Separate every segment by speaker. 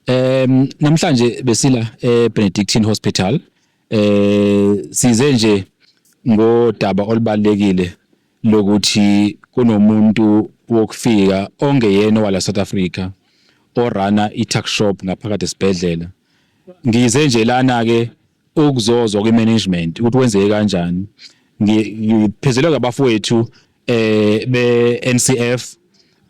Speaker 1: Um namhlanje besila eBenedictine Hospital eh size nje ngodaba olubalekile lokuthi kunomuntu wokufika ongeyena wala South Africa orana i-tuck shop ngaphakathi esibhedlela ngize nje lana ke ukuzozwa kwi-management ukuthi wenzeke kanjani ngiphezelwe ngabafowethu eh be-NCF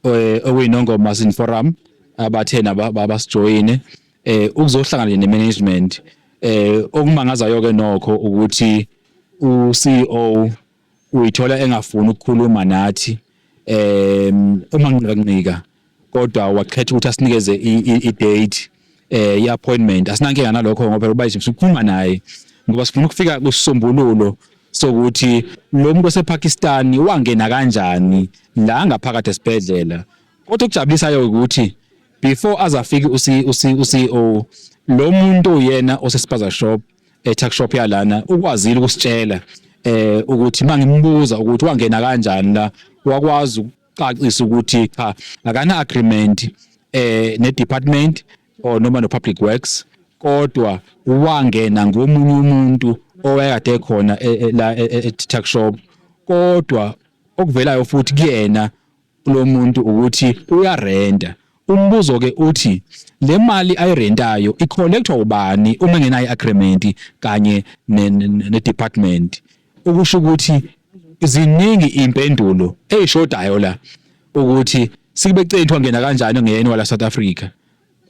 Speaker 1: eh, okuyinongoma sin forum abathena babasijoyine eh ukuzohlangana ne-management eh okumangazayo ke nokho ukuthi u-CEO uyithola engafuni ukukhuluma nathi um uma nqika kodwa wakhetha ukuthi asinikeze i-date eh i-appointment asinankinga nalokho ngoba uba sikhuluma naye ngoba sifuna ukufika kusisombululo sokuthi lo muntu osePakistan wangena kanjani la ngaphakathi esibhedlela kodwa okujabulisayo ukuthi before azafika uCEO lo muntu uyena osesipaza shop e tuck shop yalana ukwazile ukusitshela eh ukuthi mangimbuza ukuthi wangena kanjani la wakwazi ukucacisa ukuthi cha akana agreement eh ne department or noma no public works kodwa wangena ngomunye umuntu owayekade khona e, e, la e, e-tuck shop kodwa okuvelayo futhi kuyena kulomuntu ukuthi uyarenta. Umbuzo ke uthi le mali ayirentayo icollectwa ubani uma engenayo i-agreement kanye ne-department? Ukusho ukuthi ziningi iy'mpendulo ey'shodayo la ukuthi sikube ceni kuthiwa ngena kanjani ongeyena wala South Africa.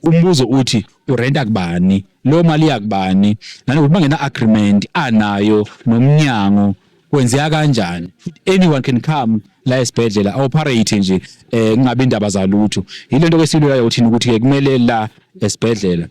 Speaker 1: umbuzo uthi urenta kubani leyo mali yakubani nanokuthi bangena agreement anayo nomnyango kwenzeka kanjani anyone can come la esibhedlela awoperate nje eh kungabe indaba zalutho yile nto kesilulayo uthini ukuthi ke kumele la esibhedlela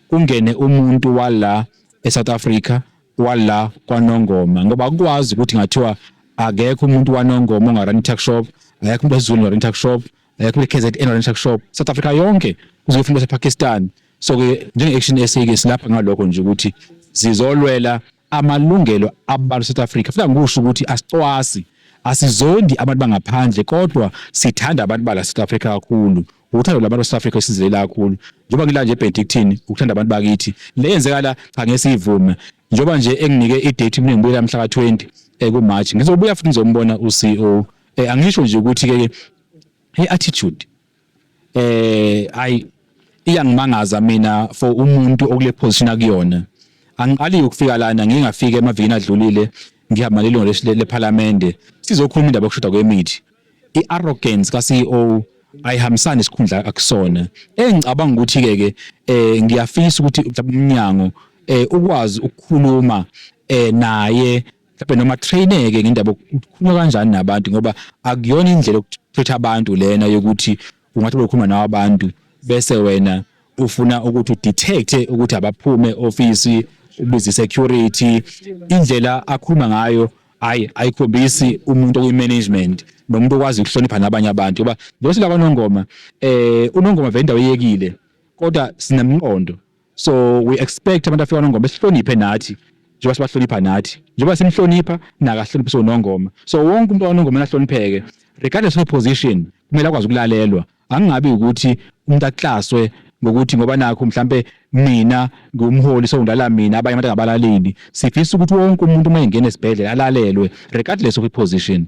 Speaker 1: kungene umuntu wala eSouth Africa wala kwaNongoma ngoba akukwazi ukuthi ngathiwa akekho umuntu waNongoma ongarani tuck shop akekho umuntu wesiZulu ongarani tuck shop eh, kule KZN Orange Shark Shop South Africa yonke kuze kufike ePakistan so ke njenge Action SA ke silapha ngalokho nje ukuthi zizolwela amalungelo abantu South Africa futhi ngikusho ukuthi asicwasi asizondi abantu bangaphandle kodwa sithanda abantu bala South Africa kakhulu uthando labantu South Africa esizilela kakhulu njengoba ngila nje Benedictine ukuthanda abantu bakithi le yenzeka la cha ngesivume njengoba nje enginike i date mina ngibuya mhla ka 20 eku March ngizobuya futhi ngizombona u CEO eh angisho nje ukuthi ke hey attitude eh ay iyangimangaza mina for umuntu okule position akuyona angiqali ukufika lana ngingafika emavikini adlulile ngihamba lelungu lephalamende sizokhuluma indaba yokushoda kwemithi i-arrogance ka-CEO ayihambisani isikhundla akusona engicabanga ukuthi ke ke eh ngiyafisa ukuthi umnyango eh ukwazi ukukhuluma eh naye mhlawumbe noma traineke ngendaba ukukhuluma kanjani nabantu ngoba akuyona indlela yokutreatha abantu lena yokuthi ungathi ukhuluma nawo abantu bese wena ufuna ukuthi udetecte ukuthi abaphume ofisi ubize security indlela akhuluma ngayo hayi ayikhombisi umuntu okuyi-management nomuntu okwazi ukuhlonipha nabanye abantu ngoba njengoba silakwanongoma um eh, unongoma vele indawo eyekile kodwa sinemqondo so we expect abantu afika nongoma sihloniphe nathi njengoba sibahlonipha nathi njengoba simhlonipha nakahloniphe so nongoma so wonke umuntu onongoma ahlonipheke regardless of position kumele akwazi ukulalelwa angabi ukuthi umuntu aklaswe ngokuthi ngoba nakho mhlambe mina ngumholi so ngilala mina abanye abantu angabalaleli sifisa ukuthi wonke umuntu uma engena esibhedlela alalelwe regardless of iposition